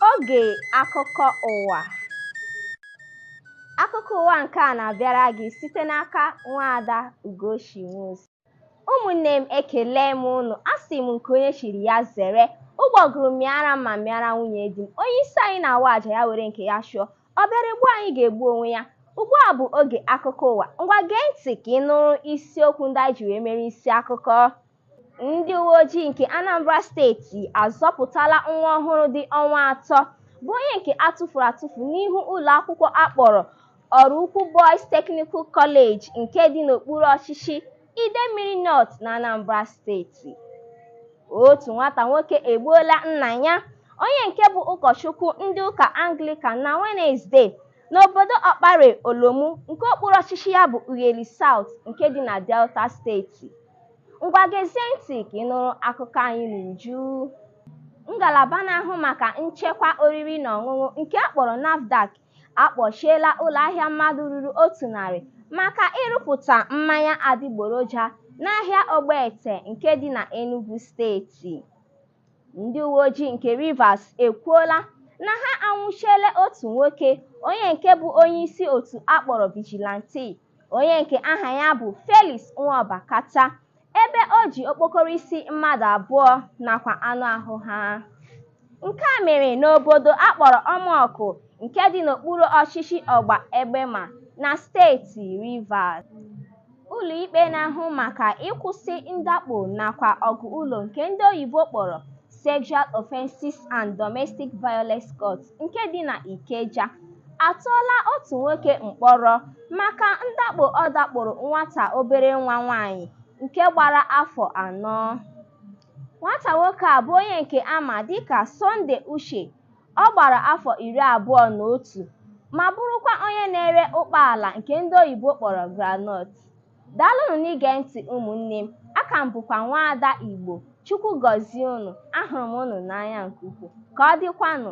Oge akụkọ ụwa akụkọ ụwa nke a na-abịara gị site n'aka nwaada Ugochi Nwosu. Ụmụnne m ekele m unu asị m nke onye chiri ya zere ụgbọgụrụ mịara m ma mịara nwunye di m onye isi anyị na-awa aja ya were nke ya chụọ ọ bịara egbu anyị ga-egbu onwe ya ugbu a bụ oge akụkọ ụwa ngwa gee ntị ka ị nụrụ isiokwu ndị anyị ji wee mere isi akụkọ Ndị uweojii nke Anambra steeti azọpụtala nwa ọhụrụ dị ọnwa atọ bụ onye nke a tụfuru atụfu n'ihu ụlọakwụkwọ a kpọrọ Oraukwu Boys Technical College nke dị n'okpuru ọchịchị Idemmiri North n'Anambra steeti. Otu nwata nwoke egbuola nna ya, onye nke bụ ụkọchukwu ndị ụka Anglịkan na Wenezde n'obodo Ọkpare Olomu nke okpuru ọchịchị ya bụ Ughelli South nke dị na Delta steeti. Ngwa gezie ntị ka ị nụrụ akụkọ anyị n'uju. Ngalaba na-ahụ maka nchekwa oriri na ọṅụṅụ nke a kpọrọ NAFDAC akpọchiela ụlọahịa mmadụ ruru otu narị maka ịrụpụta mmanya adịgboroja n'ahịa Ogbete nke dị na Enugu steeti. Ndị uweojii nke Rivers ekwuola na ha anwụchiela otu nwoke onye nke bụ onyeisi otu a kpọrọ Vigilante onye nke aha ya bụ Felix Nwaobakata ebe o ji okpokoro isi mmadụ abụọ nakwa anụ ahụ ha. Nke a mere n'obodo a kpọrọ Ọmọkụ nke dị n'okpuru ọchịchị Ogba Egbema na steeti Rivers. Ụlọikpe na-ahụ maka ịkwụsị ndakpo nakwa ọgụ ụlọ nke ndị oyibo kpọrọ Sexual Offences and Domestic Violence Court nke dị na Ikeja atụọla otu nwoke mkpọrọ maka ndakpo ọ dakporo nwata obere nwa nwaanyị nke gbara afọ anọ. Nwata nwoke a bụ onye nke a ma dịka Sunday Uche Ọ gbara afọ iri abụọ na otu ma bụrụkwa onye na-ere ụkpaala nke ndị oyibo kpọrọ groundnut. Daalụnụ n'ige ntị ụmụnne m, aka m bụkwa nwaada Igbo. Chukwu gọzie unu, ahụrụ m unu n'anya nke ukwuu. Ka ọ dịkwanụ.